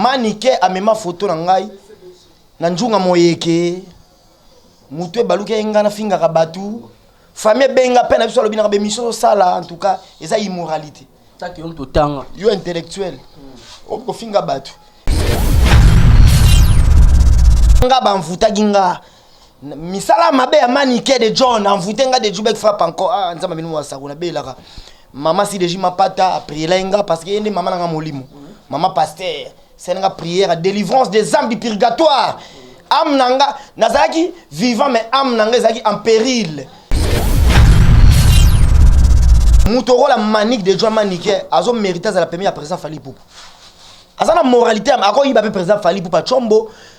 Manike amema foto na ngai na njunga moyeke moto ebaluki ye ngai nafingaka bato fami ebenga mpe na biso alobinaka bemisio ozosala en tout cas eza immoralité yo intellectuel okofinga bato nga banvutaki nga misala mabe ya manike de john envoute nga de jubek frappe encore ah nzambe bino masako na belaka mama si deji mapata aprielai nga parce que ye nde mama na nga molimo mama pasteur sali nga prière délivrance des âmes du purgatoire ame na nga nazalaki vivant mais ame na nga ezalaki en péril moto okola manike de john manike azo mérite azala pembe ya président fali pupu aza na moralité akoyiba mpe président fali pupa combo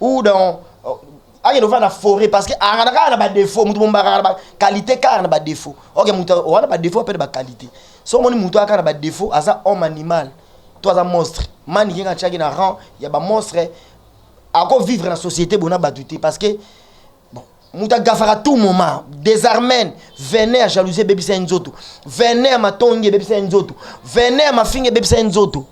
ou dans euh, akende ofanda na foret parce que akana kaka na badefo moto mombakaka na baqualité kaka na badefo oke moto wana badefo ape na baqualité so omoni moto aka na badefo aza homme animal to aza monstre mani kenge atyaki na rang ya bamonstre akovivre na société bona bato te parce que Mutu agafaka tout moment. Desarmen, venin ya jalousie ebebisa ye nzoto. Venin ya matongi ebebisa ye nzoto. Venin ya mafinga ebebisa ye nzoto.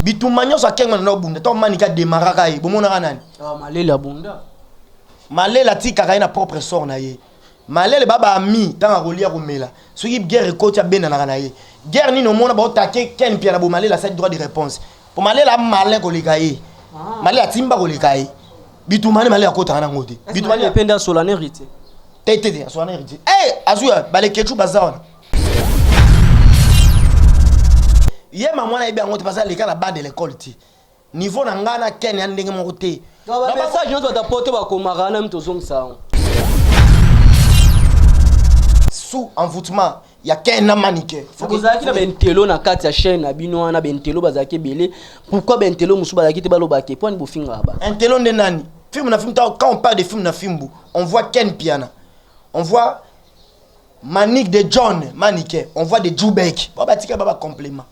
Bitumba nyonso akenga na obunda. To manika demaraka ye. Bomonaka nani? Ah, malela bunda. Malela atikaka ye na propre sort na ye. Malele ba ba ami tanga akolia komela soki guerre ekoti abendanaka na ye guerre nini omona ba otake Ken Mpiana bo Malele asali droit de réponse po Malele a malin koleka ye ah. Malele atimba koleka ye bitumani Malele akotaka nango te bitumani apende asola na héritier te te te asola na héritier eh azwi baleketshu baza wana ye mamwana yebi yango te baza leka na bande l'école te Niveau na nga na Ken ya ndenge moko te. Na ba message nyoso bata poto bakomaka na mito zongisa yango. Sous envoûtement ya Ken na Manike. Bozalaki na bentelo na kati ya chaîne na bino wana bentelo bazalaki ebele. Pourquoi bentelo mosusu bazalaki te baloba ke pwani bofingaka ba. Intelo nde nani? Film na film quand on parle de film na fimbu, on voit Ken Piana. On voit Manik de John Manike, on voit de Jubek. Ba batika ba ba complément.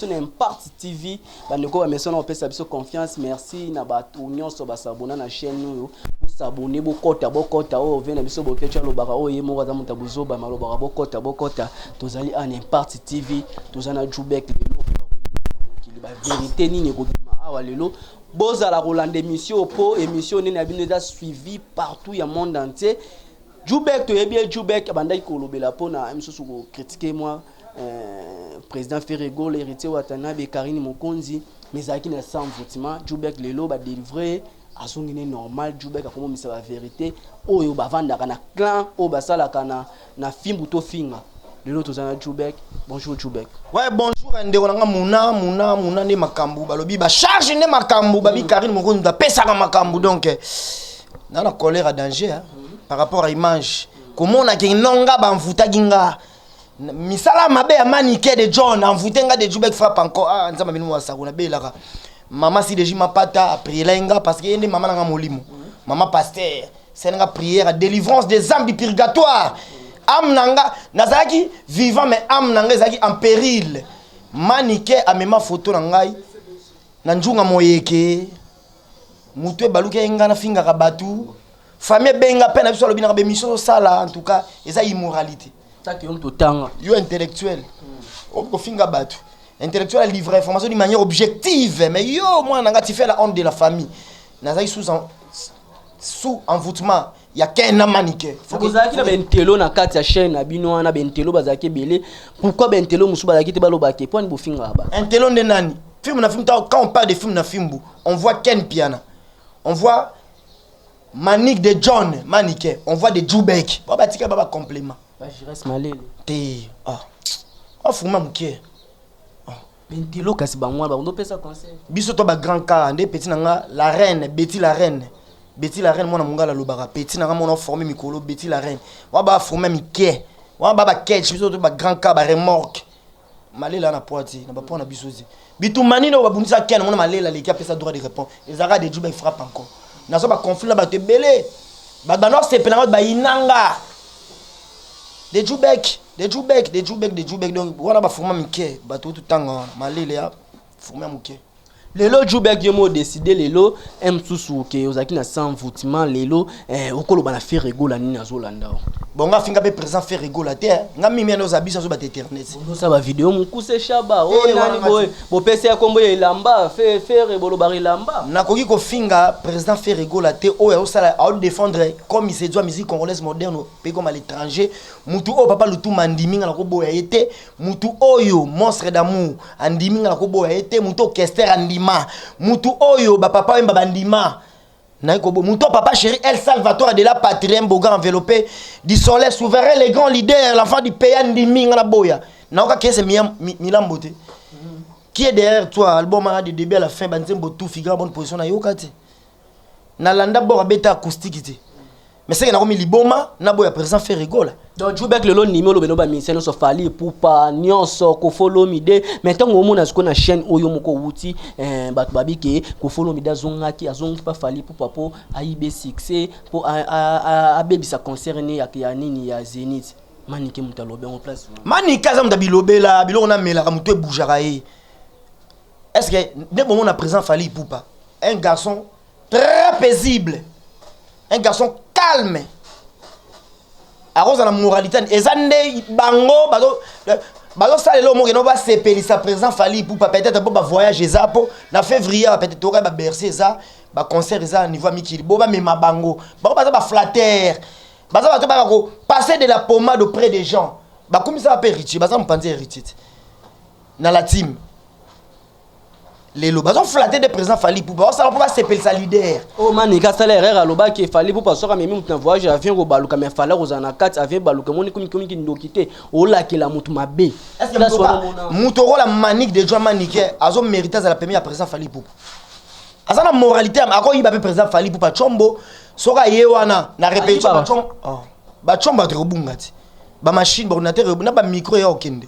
biso na impart tv bandeko bamesana kopesa biso confiance merci na bato nyonso basabona na chaîne oyo bosabone bokota bokota oyo ve na biso bokeco alobaka oyo ye moko aza moto ya bozoba malobaka bokota bokota tozali en impart tv toza na jubek lelo mokili baverité nini ekobima awa lelo bozala kolanda émission po émission nene ya bino eza suivi partout ya monde entier jubek toyebi ye jubek abandaki kolobela mpona misusu kokritike mwa Euh, président Ferre Gola, héritier Watanabe, Karine Mokonzi, mais ezalaki na sans votement. Djoubek lelo ba délivrer azongi ne normal Djoubek akomomisa ba vérité oyo bavandaka na clan oyo basalaka na, na fimbu to finga lelo toza na Djoubek. Bonjour Djoubek. Ouais, bonjour ndeko nanga Muna Muna Muna nde makambu balobi ba charge nde makambu babi mm. Karine Mokonzi apesaka makambu donc eh, na na colère à danger hein, mm. par rapport à image komona ke nonga bamvutaki nga misala mabe ya manike de john envoute nga de jubek frappe encore ah nzambe bino masako na belaka mama si deji mapata aprielai nga parce que ye nde mama na nga molimo mama pasteur sali nga prière délivrance des âmes du purgatoire ame na nga nazalaki vivant mais ame na nga ezalaki en péril manike amema foto na ngai na njunga moyeke mutu ebalukaki ngai nafingaka bato fami ebenga mpe na biso alobi naka bemission osala en tout cas eza immoralité yo intellectuel hmm. okoki kofinga bato intellectuel alivre information d'une manière objective mais yo mwana nanga tu fais la honte de la famille nazalaki sous, en, sous envoûtement ya ken na manike bozalaki na bentelo na kati ya chaine na bino wana bentelo bazalaki ebele pourquoi bentelo mosusu bazalaki te balobake mpo ani bofingaka ba entelo nde nani film na film quand on parle de film na fimbu on voit ken piana on voit manik de john manike on voit de jubek ba batika ba bacomplément te afuma ah. ah, moke Intelo kasi bango wana bakondo pesa conseil. Biso to ba grand cas nde petit na nga la reine Betty la reine. Betty la reine mwana mongala lobaka petit na nga mwana forme mikolo Betty la reine. Wa ba forme mikie. Wa ba ba catch biso to ba grand cas ba remorque. Malela na poiti na ba pona biso zi. Bitumani no babundisa ken mwana malela leki apesa droit de répondre. Ezaka de juba frappe encore. Nazo ba conflit na bato ebele. Bato bano sepela ngai bayinanga. De Jubek. de jubek de jubek de jubek donc wana bafuma mike bato kutu tanga wana malele ya fuma ya moke lelo jubek yo mo décide lelo eh, mosusu oke ozalaki na sans voutement lelo eh, okoloba na fere egola nini azolanda yo bongo afinga mpe présent fere egola te eh. nga mimi ana oza biso azobata internet osa bavideo mokuse shaba o Eh, wana nani boye mati. bopesi ya nkombo ya elamba fe- fere bolobaka elamba nakoki kofinga président fere egola te oyo aosala aodefendre comme isedua musique congolaise moderne mpe comme à l'étranger Mutu oyo papa Lutumba andimi nga nako boya ye te, mutu oyo monstre d'amour andimi nga nako boya ye te, mutu oyo kester andima, mutu oyo ba papa wemba bandima naye kobo, mutu oyo papa cheri el salvatore de la patrie un beau grand enveloppe du soleil souverain le grand leader l'enfant du pays andimi nga naboya nao ka kese miya mi, milambo te qui est derrière toi album wana de debut à la fin ba nzembo tout figure bonne position nayoka te nalanda bord abeta acoustique te mais seke nakomi liboma na boya président ferre gola donc jubek lelo ndimi olobe no baministère nyonso fali epupa nyonso kofolomide mais ntango omona sikoyo na chaîne oyo moko owuti eh, bato babi ke kofolomide azongaki azongaki mpa fali epupa mpo ayibe succès mpo abebisa concert ne ya nini ya zenith manike moto alobi yango place manike aza moto bilobela biloko namelaka moto ebujaka ye est ce que nde bomona présent fali epupa un garçon très paisible un garçon calme akozala na moralité eza nde bango bazo bazosalela oyo mokende basepelisa président fali ipupa peut-être mpo bavoyage eza mpo na février awa peut-être toyoka baberse eza baconcert eza na niveau ya mikili bo bamema bango bango baza baflattere baza bato baka kopasser de la pommade auprès des gens bakumisaka mpe héritier baza mopanzi ya héritier te na la time lelo bazo flatter de président Fally Ipupa basala mpo basepelisa leader oyo oh, manika asala erreur alobaki Fally Ipupa soki amemi moto na voyage avion kobaluka mais Fally akozala na kati avion ebaluka emoni komikomiki ndoki te olakela moto mabe moto okola manik de joa manike azo mérite azala pemi ya président Fally Ipupa aza na moralité akoyiba mpe président Fally Ipupa combo soki aye wana na repetition bacombo bato ekobunga te bamachine baordinateur na bamicro ya okende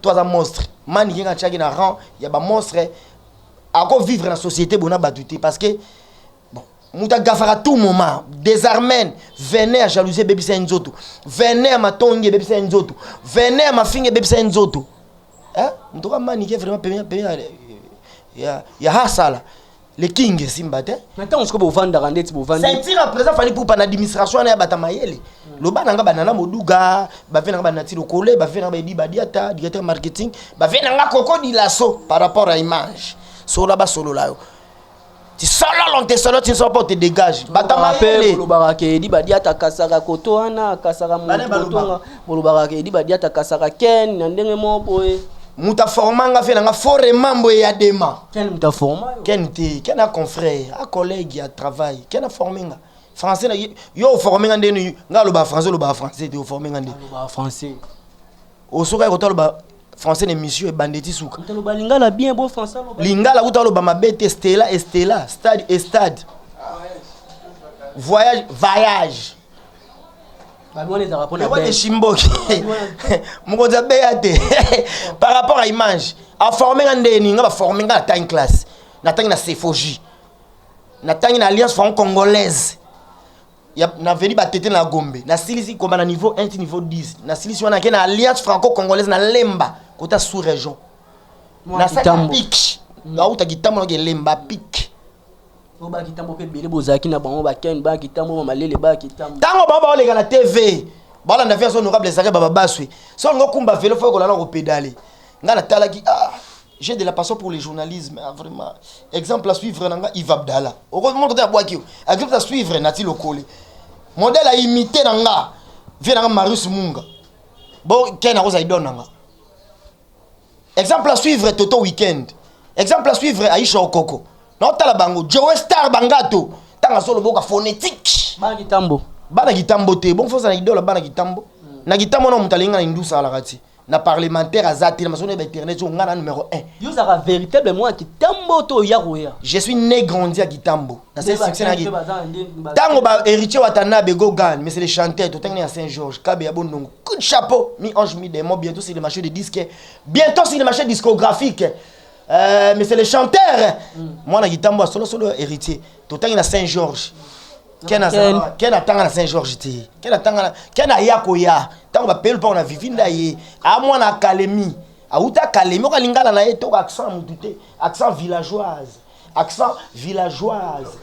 to aza monstre manike nga atiaki na rang ya ba monstre ako vivre na société bona batu te parce que bon mutu agafaka tout moment desarmen vene ya jalousie ebebisa ye nzoto vene ya matongi ebebisa ye nzoto vene ya mafinga ebebisa ye nzoto eh? mutu ka manike vraiment pemia pemia ya, ya hasala le king esimba te na ntango sikoyo bovandaka ndeti bovandi ceinture ya président fali pupa na administration wana ya bata mayele loba na nga banana moduga bave na nga banati lokole bave na nga baedi badiata directeur marketing bave na nga koko dilaso par rapport ya image sola basolola yo tisololo nte solo tinso mpo te dégage bata mayele bolobaka ke edi badiata kasaka koto wana kasaka mototonga bolobaka ke edi badiata kasaka ken na ndenge moko boye moto aforma nga fe na nga fore mambo eyadema Ken muta forma yo. Ken te, Ken a confrère, a collègue ya travail. Ken a formé nga. Français na yo o formé nga ndeni nga loba français loba français te o formé nga ndeni. Loba français. O soka ko taloba français na émission ebandeti suka. Taloba lingala bien bo français loba. Lingala ko taloba mabe te Stella et Stella, stade et stade. Voyage, voyage. wana eshimboki mokonzi abeya te par rapport à image aforme nga ndenge nini nga baforme nga natangi classe natangi na sephogie natangi na alliance franco congolaise naveli batete na gombe nasilisi koma na niveau 1 ti niveau 10 nasilisi wana ake na alliance franco congolaise na lemba kota sous région nasali pike nauta kitambo nake lemba pike ba kitambo pe bele bozalaki na bango ba ken ba kitambo ba malele ba kitambo tango ba ba oleka na TV bala na vie azo nokable ezaka ba baswe so ngo kumba velo fo kolala ko pedale nga na talaki ah j'ai de la passion pour le journalisme ah, vraiment exemple à suivre na nga Yves Abdala oko mo kote abwaki yo exemple à suivre na ti lokole modèle à imiter na nga vie na nga Marius Munga bo ken akozala idon na nga Exemple à suivre Toto Weekend. Exemple à suivre Aisha Okoko. Non tala bango Joe Star Bangato. Tanga solo boka phonétique. Bana kitambo. Bana kitambo te. Bon faut ça na idole bana kitambo. Hmm. Na kitambo na mutalinga na indusa la kati. Na parlementaire azati na masolo ba internet zo ngana numéro 1. Yo za véritable moi kitambo to ya roya. Je suis né grandi à kitambo. Na c'est succès na ki. Tango ba héritier Watanabe Gogan mais c'est les chanteurs to tangi na Saint Georges Kabe ya Bondongo. Coup de chapeau, mi ange mi démon, bientôt sur le marché de disques, bientôt sur le marché discographique. Euh, mais c'est le chanteur. Mm. Moi, na gitambo solo solo héritier. Tout temps il a Saint Georges. Ken azala, Ken atanga na Saint Georges te. Ken atanga na Ken aya koya. Tango ba pelu pa na vivinda ye. A moi na Kalemi. A uta Kalemi ko lingala na ye to accent mutu te. Accent villageoise. Accent villageoise.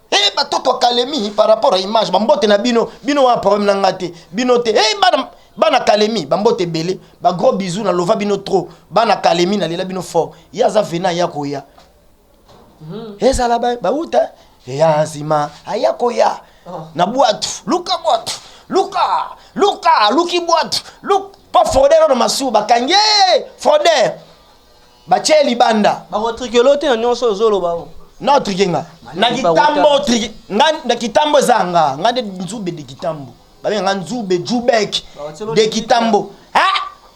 Hey, batoto ya kalemi par rapport ya image bambote na bino bino wana problème na nga te bino te hey, bana bana kalemi bambote ebele bagros bisou na lova bino trop bana kalemi nalela bino fort ye aza vena ya koya hmm. ezala bauta eya nsima aya koya oh. na bwatu luka bwatu luka luka luki bwatu luka mpo froder oyo na masuba bakangi ye froder Batie libanda. Bako trikelo te na nyonso ozoloba o. Non trikenga. Na kitambo trike nga na kitambo zanga nga de nzube de kitambo. Babe nga nzube jubek de kitambo. Ha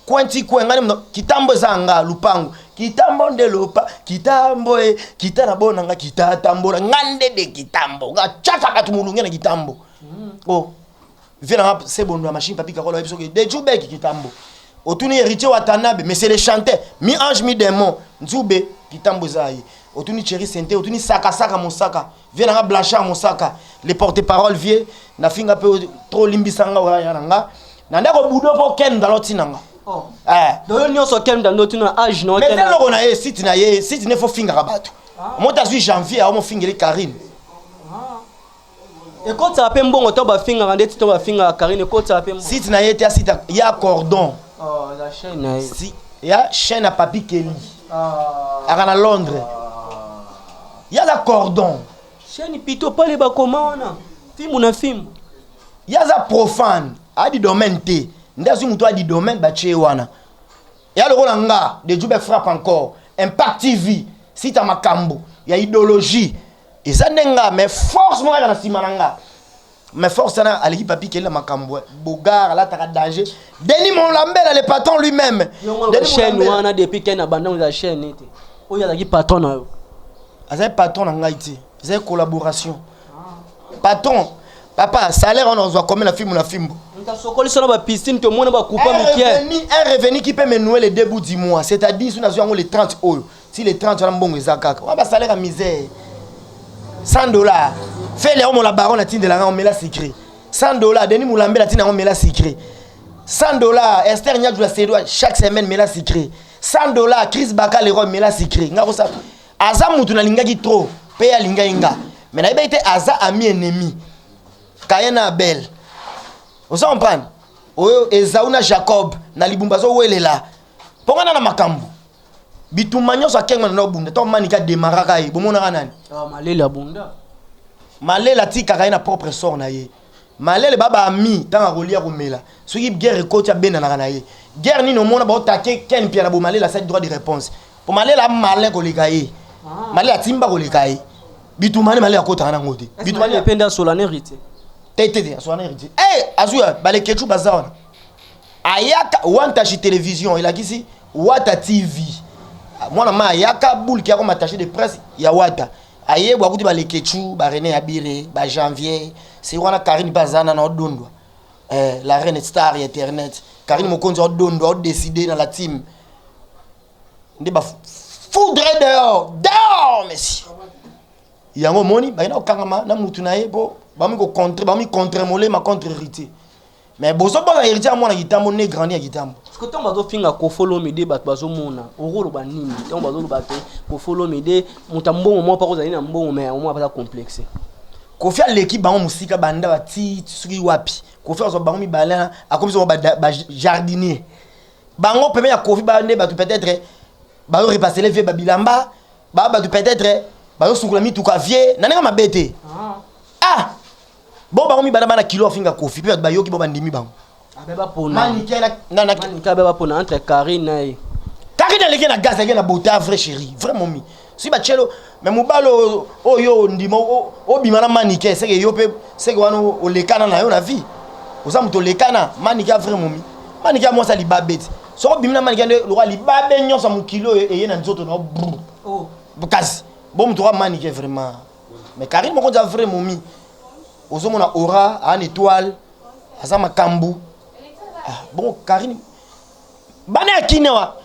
kwenti kwe nga ne kitambo zanga lupango. Kitambo nde lopa kitambo e kita na bona nga kita tambola nga nde de kitambo. Nga chaka bato mulunge na kitambo. Mm. Oh. vie na nga se bondo ya machine papi kakolo ayebi soki de jubeki kitambo otuni héritier watanabe mais c'est le chanteur mi ange mi démon nzube kitambo eza ye otuni cheri sente otuni sakasaka mosaka vie na nga blanchard mosaka le porte parole vie nafinga mpe trop olimbisa nga oyaya na nga na ndako budo mpo ken ndalo ntina nga Oh. Eh. doyo nyonso ken ndalo ntina age no mais ken- eloko na ye site na ye site ne fo fingaka bato moto azwi janvier aomofingeli karine ekotisaka mpe mbongo to bafingaka ndeti to bafingaka karine ekotisaka mpe mbongo site na ye te ya site ya cordon oh, la chaîne na ye si, ya chaîne ya papi kelly ah. aka na londres ah. ya za cordon chaîne pito pale bakoma wana fimbu na fimbu ya za profane adi domaine te nde azwi moto adi domaine batie wana ya lokola nga de jube frappe encore impact tv site ya makambo ya idéologie eza nde nga mais force moko eza na nsima na nga mais force wana aleki papi kelela makambo bogar alataka danger deni molambela le patron lui-même chaîne wana depuis ken abandango eza chaîne ete oyo azalaki patron na yo azali patron na ngai te ezali collaboration patron papa salaire wana ozwa combien na fimbo na fimbo ntasokolisa na bapiscine tomona bakupa mike un revenu qui peut me nouer le début du mois c'est-à-dire soki nazwi yango le 30 oyo ti le 30 wana mbongo eza kaka wana basalaire ya misère 100 dollar fele yango mola baron atindela ngai omela secret 100 dollar denis molambela atinda yango omela secret 100 dollar ester nyadula sedwa chaque semaine mela secret 100 dollar chris baka leroy mela secret ngai kosa aza motu nalingaki trop mpe alingaki nga me nayebaki te aza ami ennemi kaye na abel oza comprendre oyo ezau na jacob na libumba azowelela mpo ngai na na makambo bitumba nyonso akenga na obunda to manika demaraka ye bomonaka nani ah, malela bunda malela atikaka ye na propre sort na ye malele baba ami ntango akolia komela soki guerre ekoti abendanaka na ye guerre nini omona baotake ken mpiana bo malele asali droit de réponse mpo malele amalin koleka ye ah. malele atimba koleka ye bitumani malele akotaka nango te bitumani mpe nde asola na héritier te te te asola na héritier e azwi baleketchu baza wana ayaka wantashi télévision elakisi Wata TV mwana ma ayaka boule ki akoma attaché de presse ya wata aye bwa kuti ba leketchu ba René Abire ba Janvier c'est wana Karine pe azana na odondwa eh, la reine star ya internet Karine Mokonzi odondwa o décider na la team nde ba foudre dehors dehors monsieur yango omoni bakenda kokangama na mutu na ye mpo bakomi contre bakomi contre molema contre héritier Mais bozo banga heritier ya mwana kitambo ne grandi ya kitambo. Parce que tant bazo finga kofolo mede bato bazo mona oro loba nini tant bazo loba te kofolo mede muta mbongo mwa pako zali na mbongo mais omwa pata complexe. Kofi aleki bango musika banda ba ti suki wapi. Kofi azo bango mibale akomi zo ba, ba jardinier. Bango peme ya Kofi ba nde bato peut-être bazo repasser vie ba bilamba ba bato peut-être bazo sukula mituka vie na ndenge mabe te. Ah. ah. Bon bango mibale bana kilo afinga kofi pe bayoki bo bandimi bango. Abe ba pona. Mani kela na na Mani kabe ba pona entre Karine na ye. Karine aleki na gaz aleki na beauté vrai chérie, vrai momi. Si ba chelo mais mobalo oyo ndima obima na manike seke yo pe seke wana olekana na yo na vie. Oza moto olekana manike vrai momi. Manike ya mwasa libabeti. Soko obimi na manike nde lokwa libabe nyonso mokili oyo eye na nzoto na yo. Oh. Kasi bo moto wa manike vraiment. Mais Karine moko za vrai momi. Ozo mona aura en étoile aza makambu. Ah, bon Karine bana ya kine wa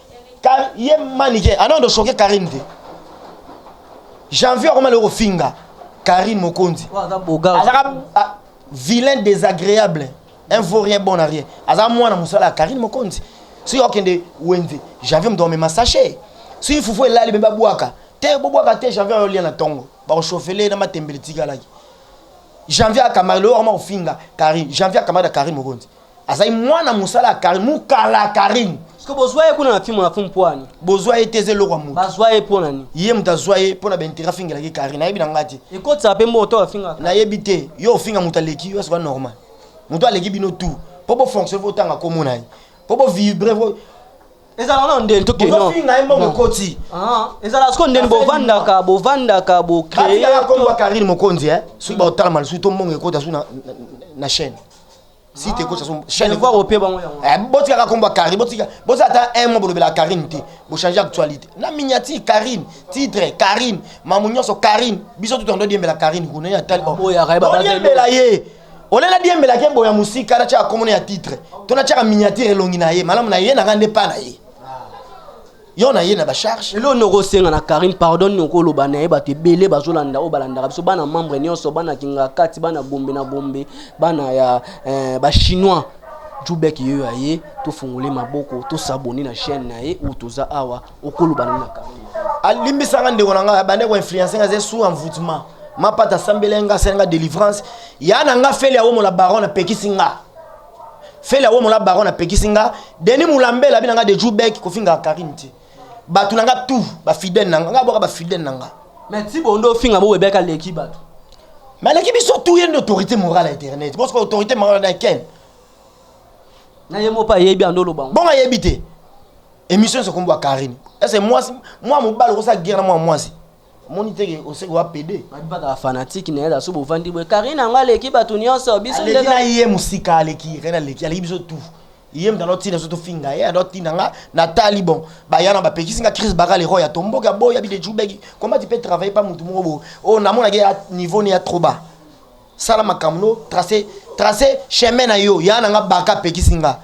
Kar ye manike ana ndo choquer Karine te. Janvier akoma loko finga Karine Mokonzi. Azaka ah, vilain désagréable. Un vaut rien bon à rien. Aza mwana musala Karine Mokonzi. Si okende wenze, Janvier mdo mema sachet. Si fufu elali bemba bwaka. Te bo bwaka te janvier yo lia na tongo ba ko chauffer na matembele tikalaki janvier akamara lelo akoma kofinga karine janvier akamara da karine mokonzi azali mwana mosala ya karine mukala ya karine soki bozwa ye kuna na fimo na fo mpoani bozwa ye te eza eloko ya moto bazwa ye mpo na nini ye moto azwa ye mpo na baintérêt afingelaki karine nayebi na ngai te ekotisaka mpe mbongo to afingaka nayebi te yo ofinga moto aleki yo soka normal moto aleki bino tout mpo bofonctionne botanga komona ye mpo bovibre ezala wana ndeni to keno ozofinga ye mbongo ekoti ah. ezala siko ndeni bovandaka bovandaka bocreeaka kombo ya karine mokonzi e soki baotala malisusu to mbongo ekota su na chaîne site ekota su chaîne voir ope bango yango eh, botikaka kombo ya karine botika boza ata un mois bolobela karine te bochange actualité na miniature karine titre karine mamu nyonso karine biso tutu ando diembela karine kuna ye atali oyembela ye olela diembela ke mboya musika na chaka komona ya titre to na chaka miniature elongi na ye malamu na ye na ngande pa na ye yo na ye na ba charge lelo noko senga na Karim pardon noko loba na ye bato ebele bazolanda oyo balandaka biso bana membre nyonso bana kingakati bana gombe na gombe bana ya eh, ba chinois jubek yeyo aye tofungole maboko tosabone na chaîne na ye ou toza awa okoloba nini na carton alimbisa nga ndeko na nga abande ko influencer nga ze sous envoûtement mapata asambela nga asala nga délivrance ya na nga feli awomola baron apekisi nga feli awomola baron apekisi nga denis mulambela abi na nga de joubek kofingaka karine te bato na nga tout bafidèle na nga nga bwaka bafidèle na nga mais tibo nde ofinga bo webeka leki bato mais aleki biso tout ye nde autorité morale ya internet bosoko autorité morale na ken na ye mopa ayebi ando olobango bongo ayebi te Emission se kombo Karine. Est-ce que moi moi mobali ko sa guerre na moi moi si. Moni te ke oseko wa PD. Ba ba ka fanatique na yela so bovandi boye. Karine anga leki batu nyonso biso ndeka. Aleki na ye musika aleki rena leki aleki biso tout. Iye mtalo tina so to finga ye ado tina nga na tali bon. Ba yana ba pekisi nga crise bakali roya tombo ka boya bi de jubeki. Comment tu peux travailler pas mutu moko bo. Oh na mona ke niveau ni ya trop bas. sala makambo no trace trace chemin na yo ya na nga baka apekisi nga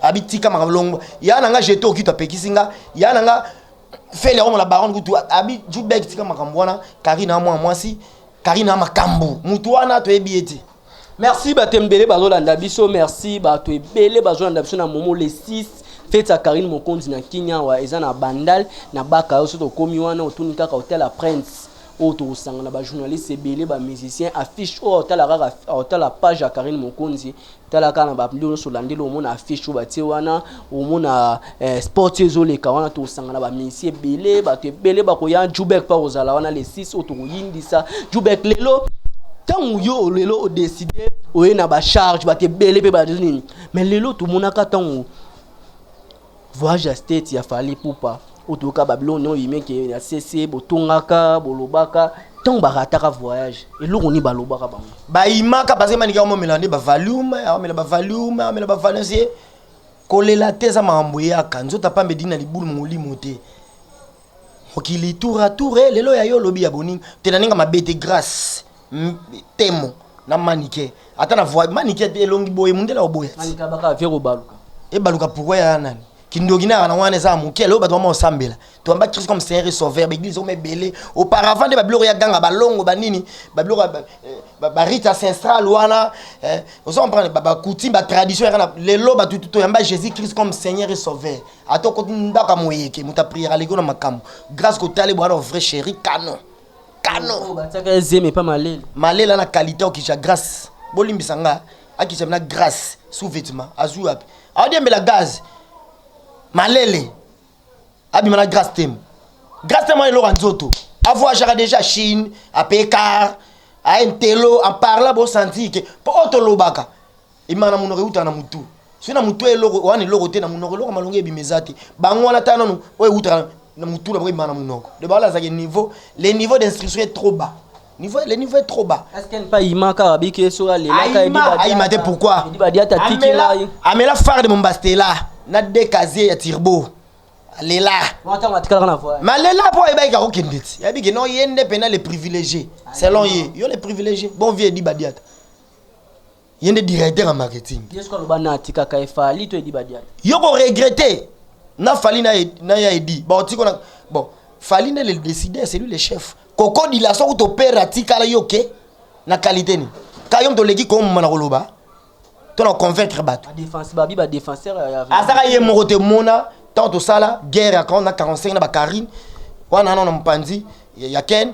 abi tika makambo longo ya na nga jeto okito apekisi nga ya na nga feli yango na baronne kutu abi jubek tika makambo wana karina mwa mwasi karina makambo motu wana toyebi ye te merci bato ebele bazolanda biso merci bato ebele bazolanda biso na momo le 6 feti ya karine mokonzi na kini awa eza na bandal na baka yo soki okomi wana otuni kaka hotel ya prince oyo tokosangana ba journaliste ebele ba musicien affiche oyo otala kaka otala page ya karine mokonzi tala kaka na babilo nyonso olandeli omona affiche oyo batie wana omona eh, sport ezoleka wana tokosangana bamisi ebele bato ebele bakoya jubek mpe akozala wana le 6 oyo tokoyindisa jubek lelo ntango yo lelo odeside oye na bacharge bato ebele mpe bato nini mais lelo tomonaka ntango Voyage ya state ya Fally Ipupa oyo toyoka Babylone oyo yime ke na CC botongaka bolobaka ntango barataka voyage eloko nini balobaka bango bayimaka baza manike aomela nde bavalume aomela bavalume aomela bavalume kolela te eza makambo eyaka nzoto apambe dina libulu molimo te mokili tour a tour eh, lelo ya yo olobi ya boninga te na ninga mabe te grace temo na manike ata na voix manike elongi boye mundele oboya ti ebaluka pourquoi ya nani kindoki na na wana eza moke lelo bato bama osambela toyamba christ comme seigneur et sauveur baeglise ome ebele auparavant nde babiloko ya ganga balongo banini babiloko barite eh, ancestral wana eh, ozo comprendre bacoutume batradition yaka na lelo bato toyamba jésus christ comme seigneur et sauveur ata okoti ndako ya moyeke moto apriere aleki na makambo grâce kotali bwana vrai chéri canon canon oyo batiaka ye zemi epa malele malele ana qualité okisha grace bolimbisa nga akisha na grace sous vêtement azwi wapi aodiembela gaz malele abima na grace temo grace temo ayeloka nzoto avoyagaka déjà chine ape car aye ntelo en parla bosanti ke mpo oyo tolobaka Ebimaka na monoko ewutaka na mutu. Soki na mutu eloko wana eloko te na monoko eloko malongi ebima eza te. Bango wana ta nanu oyo ewutaka na mutu na bango ebima na monoko. De bala zaki niveau le niveau d'instruction est trop bas. Niveau le niveau est trop bas. Est-ce qu'elle pas ima kaka biki esoka ah, lela ka ebi ba. Aima te pourquoi? Ebi ba diata tiki la. Amela phare de Mombastela na de casier ya turbo. Lela. Wata matikala na voix. Ma lela po eba ka kokende ti. Yabi ke non yende pena les privilégiés. Selon ye, yo les privilégiés. Bon vieux dit ba diata. ye nde directeur ya marketing yo ko regrette na fali na ye ya edi baotiko na bon fali nde le décideur c'est lui le chef koko dilasa kuto pere atikala yo ke na qualité nini ka yo moto oleki komoma na koloba to na convaincre bato azaka ye moko te mona ntango tosala guerre ya 45 na bacarine wana nano na mopanzi ya ken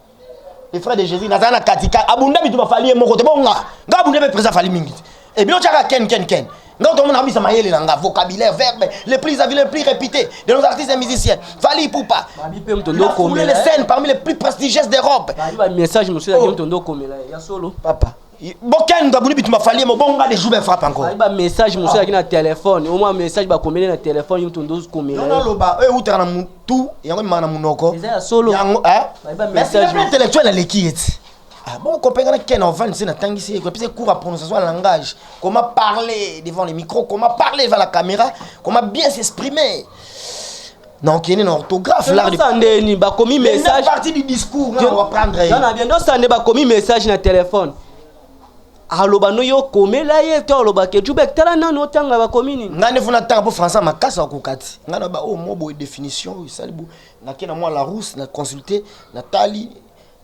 les frères de Jésus nazala na katika abunda bitu bafali ye moko te bongo nga nga abunda mpe président afali mingi te et bino tiaka ken ken ken nga otomona kabisa mayele na nga vocabulaire verbe les plus avis les plus réputés de nos artistes et musiciens Fally Ipupa il a foulé les scènes parmi les plus prestigieuses d'Europe message monsieur oh. Tondo Komela ya solo papa boken ngabuni bitu mafali mobonga de jour frappe encore ba message musu yaki na téléphone au moins message ba komele na téléphone mutu ndozu komela non lo ba e utaka na mutu yango mimana munoko eza ya solo yango hein mais c'est un intellectuel na leki yeti ah bon kopengana ken ovan se natangisi ye kopesa cours ya prononciation ya langage comment parler devant les micros comment parler devant la caméra comment bien s'exprimer na okende na orthographe lardosandeni bakomi message partie du discours na wa prendre ye na biendosande bakomi message na telefone aloba no yo komela ye to aloba ke jubek tala nani otanga bakomi nini ngai nefuna tanga mpo français makasi akoka ti ngai na ba oyo oh, mwa boye définition oyo esali bo nake na mwa la rousse na consulte na tali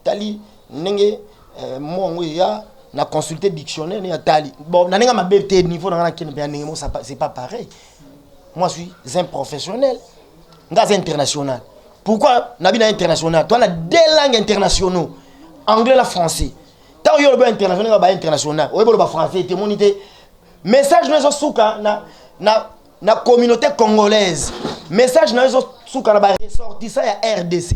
tali ndenge euh, mwa yango eya na consulte dictionnaire ne ya tali bon na ndenge mabe te niveau na ngai nakende mpe ya ndenge mo c'est pas pareil moi je suis un professionnel nga aza international pourquoi nabi na international toa na deux langues internationaux anglais na français ntango yo olobi international ba international oyebi oloba français te moni te message no ezosuka na, na, na communauté congolaise message na yo ezosuka na baressortissant ya rdc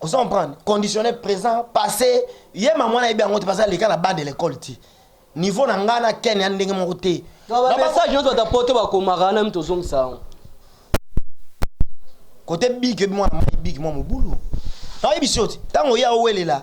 ozo comprendre conditionner présent passé ye mamu wana yebi yango te baza leka na bas de l'école ti niveau na ngai na ken ya ndenge moko te bamessage nyonso bata poto bakomaka wana mito ozongisa yango kote big ebi mwana mai big mwa mobulu nayebisi yo ti ntango ye aowelela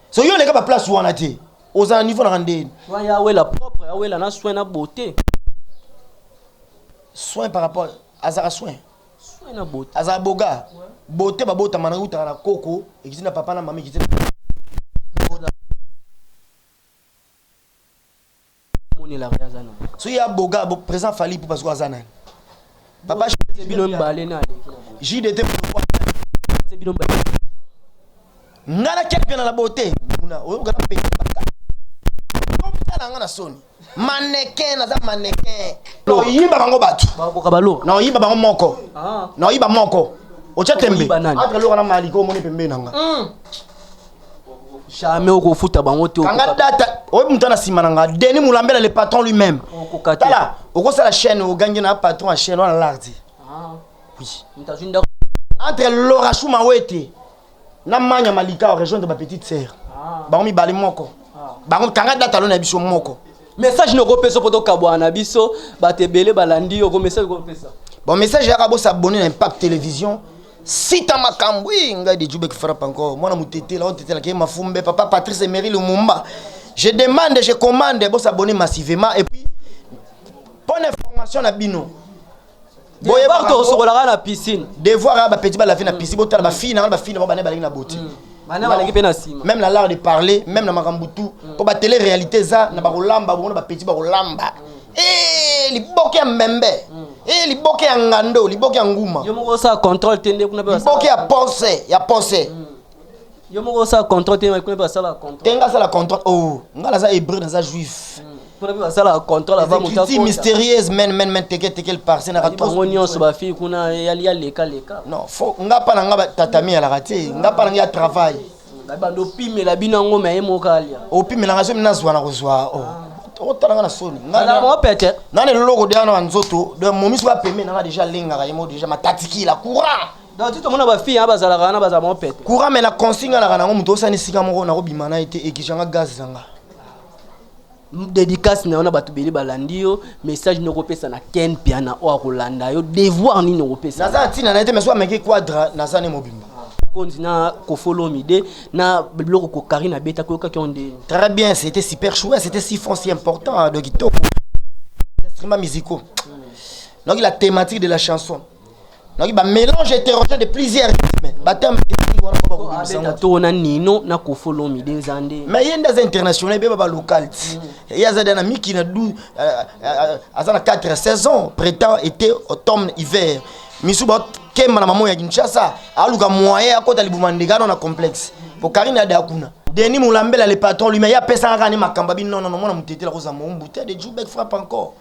soki yo oleka baplace wana te oza na niveau na randeni Soin ya wela propre, ya wela na soin na beauté. soin par rapport azaka soin Soin na beauté. azala boga bote babotama na utaka na koko ekiti na papa na mama ekiti na so ya boga bo présent fali ipupa sikoyo aza nani papa bino mibale na jdt bino mibale nga na kelpena na bote muna oyoka na pete baka tala nga na soni mannequin naza mannequin naoyiba bango bato naoyiba bango moko ah. naoyiba moko otya tembe entre loka na maliko omoni pembeni na nga hmm. jamais okofuta bango te kanga data oyo moto na nsima na nga deni molambela le patron lui même tala okosala chaîne ogangi na patron ya chaîne wana lardi ah. oui entre lora shuma wete na manya malika orejoindre ba petite sœur ah. bango mibale moko ah. bango kanga data lo na biso moko message noko pesa poto kabwana na biso bato ebele balandi yo ko message ko pesa bon message yaka bo s'abonner na impact télévision sita makambo i ngai de jubek frappe encore mwana motetela otetelaka ye mafumbe papa patrice emery lumumba je demande je commande bo s'abonner massivement et puis bonne information na bino boye ba to sokola kana piscine devoir ya ba petit ba laver na piscine botala ba fille na ba fille na ba na balingi na boti mm. bana balingi pe na sima même na l'art de parler même na makambo tout mm. po ba télé réalité za na ba kolamba bongo ba petit ba kolamba mm. eh liboke ya mbembe eh liboke ya ngando liboke ya nguma yo moko sa contrôle tende kuna pe liboke ya pense ya pense yo moko osala contrat te kuna mpe basala contrat te nga asala contrat o oh, nga naza hébreu naza juif hmm. kuna mpe basala contrat lava motakuti mystérieuse men men men teke teke parse naka bango nyonso bafille kuna ya leka leka non fo nga mpa na nga tatami alaka te nga mpa na nga ya travail hmm, bando opimela bino yango me ye moko alia opimela nga so mi nazwa na kozwa o oh. ah. okotala nga na soni pete nana eloloko deya na banzoto momiso bapembe nanga deja alengaka ye moko deja matatikila courant donc ti tomona ba fille ba zalaka na ba za mon pète courant mais na consigne na kana muto osani sika moko na ko bima na été ekijanga gaz zanga dédicace na yo na bato bele balandi yo message noko pesa na ken piana oyo akolanda yo devoir nini okopesa naza na ntina na ye te mais soki ameki quadra naza ne mobimba konzi na kofolomide na biloko kokari na beta koyokaki yo nde très bien c'était super chouette c'était si fond si important donc kitoko instruments musicaux donc la thématique de la chanson Donc ba mélange hétérogène de plusieurs rythmes. Ba termes techniques wana ba ko bimisa ngo. To na Nino na Kofo Lomi de Nzande. Mais yenda za international be ba local. Et yaza dana miki na 12 aza na 4 saisons, printemps, été, automne, hiver. Misu ba kemba na maman ya Kinshasa, aluka moyen akota libuma ndegano na complexe. Po Karine ada kuna. Denis Moulambela le patron lui-même ya pesa kaka ni makamba bi non non non mona mutetela ko za mo mbute de Jubek frappe encore.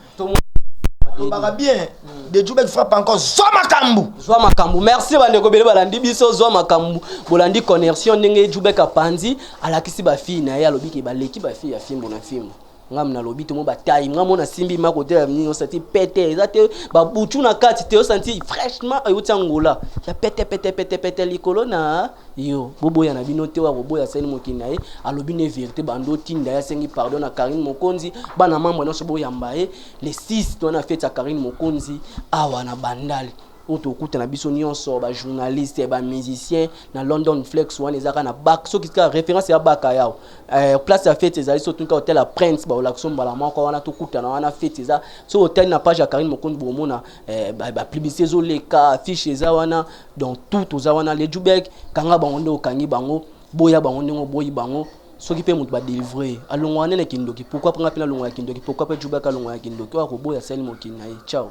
olobaka bien hmm. de jubek frappe encore zwa makambo zwa makambo merci bandeko bele balandi biso zwa makambo bolandi connexion ndenge jubek apanzi alakisi bafille na ye alobi ke baleki bafille ya fimbo na fimbo ngam nalobi tomo batayi nga mona simbi ma kote ya nini osanti pete eza te babutu na kati te osanti fraîchement euti angola ya pete pete pete pete likolo na Yo boboya na bino te oyo akoboya asali mokili na ye alobi ne verite bando otinda ye asengi pardon na Carine Mokonzi bana mambo nyonso boyamba ye le 6 to na fete ya Carine Mokonzi awa na Bandal oyo tokuta na biso nyonso ba journaliste ba musicien na London Flex wana ezaka na bak soki ka référence ya baka yao eh, place ya fete ezali so tunka hotel ya Prince ba olakso mbala moko wana tokutana wana fete eza so hotel na page ya Carine Mokonzi bomona eh, ba, ba publicité ezoleka affiche eza wana Donc tout toza wana le Jubek kanga bango nde okangi bango boya bango ndenge oboyi bango soki pe moto ba delivre ye alongwa wana na kindoki pourquoi pe nga pe nalongwa ya kindoki pourquoi pe Jubek alongwa ya kindoki oyo akoboya asali mokili na ye ciao.